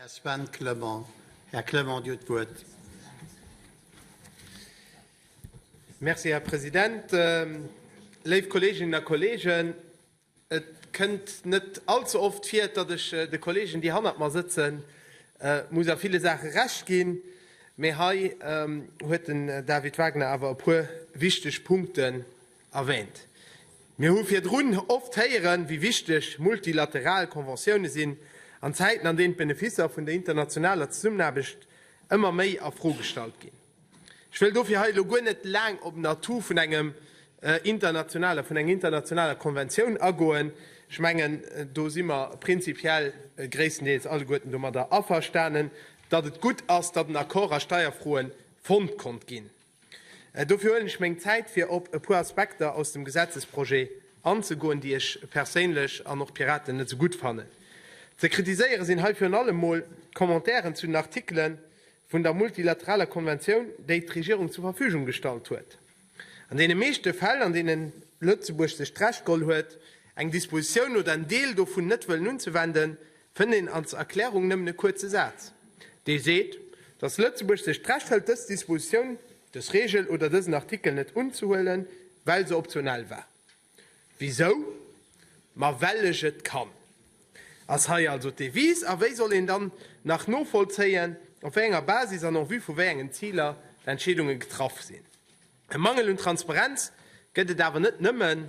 Här Sven Clement. Här Clement, Dir hutt d'Wuert. Merci, Här President. Léif Kolleeginnen a Kolleegen, et kënnt net all ze oft vir, datt ech de Kolleegen, déi hannert mer sëtzen, muss a ville Saache Recht ginn, mä hei huet den David Wagner awer e puer wichteg Punkten erwähnt. Mir hu virdrun oft héieren, wéi wichteg multilateral Conventioune sinn, an Zäiten, an deenen d'Beneficer vun der internationaler Zesummenaarbecht ëmmer méi a Fro gestallt ginn. Ech wëll dofir hei elo guer net laang op den Atout vun engem internationaler, vun enger internationaler Conventioun agoen. Ech mengen, do si mer prinzipiell gréisstendeels alleguerten domadder averstanen, datt et gutt ass, datt en Accord a Steierfroe fonnt konnt ginn. Dofir huelen ech meng Zäit, fir op e puer Aspekter aus dem Gesetzesprojet anzegoen, déi ech perséinlech an och d'Piraten net esou gutt fannen. Ze kritiséiere sinn hei virun allem emol d'Commentairen zu den Artikele vun der multilateraler Konventioun, déi d'Regierung zur Verfügung gestallt huet. An deene meeschte Fäll, an deene Lëtzebuerg sech d'Recht geholl huet, eng Dispositioun oder en Deel dovun net wëllen unzewenden, Fënnt een als Erklärung nëmmen e kuerze Saz, dee seet, dass Lëtzebuerg sech d'Recht hëlt, dës Dispositioun, dës Regel oder dësen Artikel net unzehuelen, well se optional war. Wisou? Ma well ech et kann, ass hei also d'Devise. A wéi soll een dann nach novollzéien, op wéi enger Basis an en vue vu wéi engen Ziler d'Entscheedunge getraff sinn? E Mangel un Transparenz gëtt et awer net nëmmen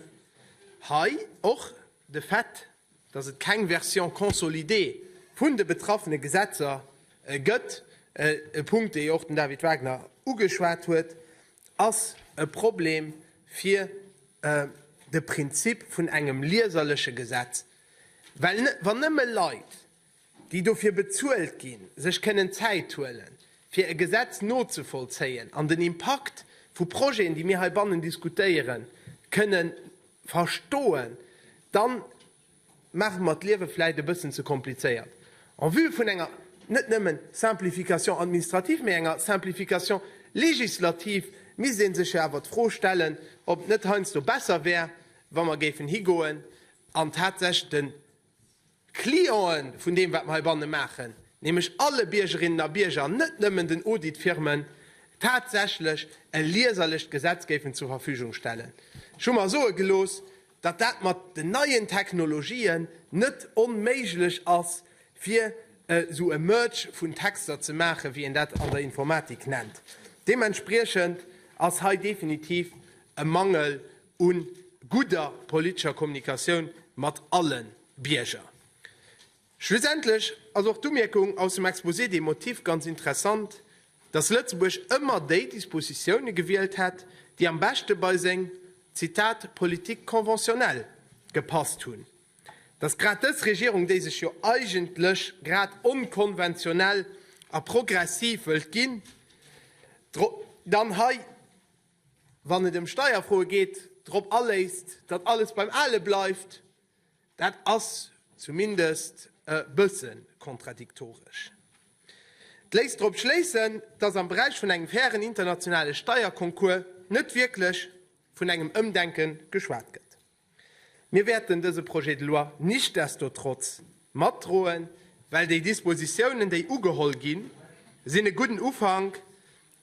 hei. Och de Fait, dass et keng Version consolidée vun de betraffene Gesetzer gëtt, e Punkt, dee jo och den David Wagner ugeschwat huet, ass e Problem fir de Prinzip vun engem lieserleche Gesetz. Well wann nëmme Leit, déi dofir bezuelt ginn, sech kënnen Zäit huelen, fir e Gesetz nozevollzéien an den Impakt vu Projeten, déi mir heibannen diskutéieren, kënnen verstoen, da maache mer d'Liewe vläicht e bëssen ze komplizéiert en vue vun enger net nëmme Simplification administrative, mä enger Simplification législative. Misst ee sech jo awer d'Fro stellen, ob et net heiansdo besser wär, wa mer géifen higoen an tatsächlech de Clienten vun deem wat mer heibanne maachen, nämlech alle Biergerinnen a Bierger, net nëmmen den Auditfirmen, tatsächlech e lieserlecht Gesetz géifen zur Verfügung stellen. Ech hu mer soe gelooss, datt dat mat den neien Technologien net onméiglech ass, fir esou e Merge vun Texter ze maachen, wéi een dat an der Informatik nennt. Deementspriechend ass hei definitiv e Mangel u gudder politescher Kommunikatioun mat alle Bierger. Schlussendlech ass och d'Umierkung aus dem Exposé des motifs ganz interessant, dass Lëtzebuerg ëmmer déi Dispositiounen gewielt hätt, déi am beschte bei seng, Zitat, politique conventionnelle gepasst hunn. Dass grad dës Regierung, déi sech jo eigentlech grad onkonventionell a progressiv wëllt ginn, dann hei, wann et ëm Steierfroe geet, drop aléisst, datt alles beim Ale bleift, dat ass zumindest e bësse kontradiktoresch. Et léisst drop schléissen, datt am Beräich vun engem fairen internationale Steierconcours net wierklech vun engem Ëmdenke geschwat gëtt. Mir wäerten dese Projet de loi nichtsdestotrotz matdroen, well déi Dispositiounen, déi ugeholl ginn, sinn e gudden Ufank.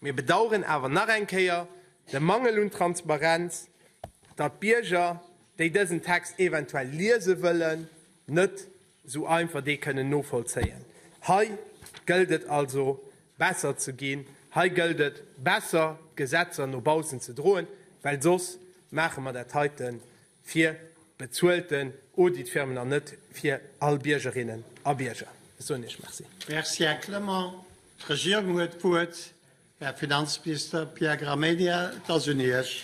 Mir bedauern awer nach eng Kéier de Mangel un Transparenz, datt d'Bierger, déi dësen Text eventuell liese wëllen, net Esou einfach dee kënnen novollzéien. Hei gëllt et also besser ze ginn, hei gëllt et besser d'Gesetzer no baussen ze droen, well soss maache mer dat heite fir bezuelten Auditfirmen an net fir all Biergerinnen a Bierger. Ech soen Iech Merci. Merci, Här Clement. D'Regierung huet d'Wuert. Här Finanzminister Pierre Gramegna, et ass un Iech.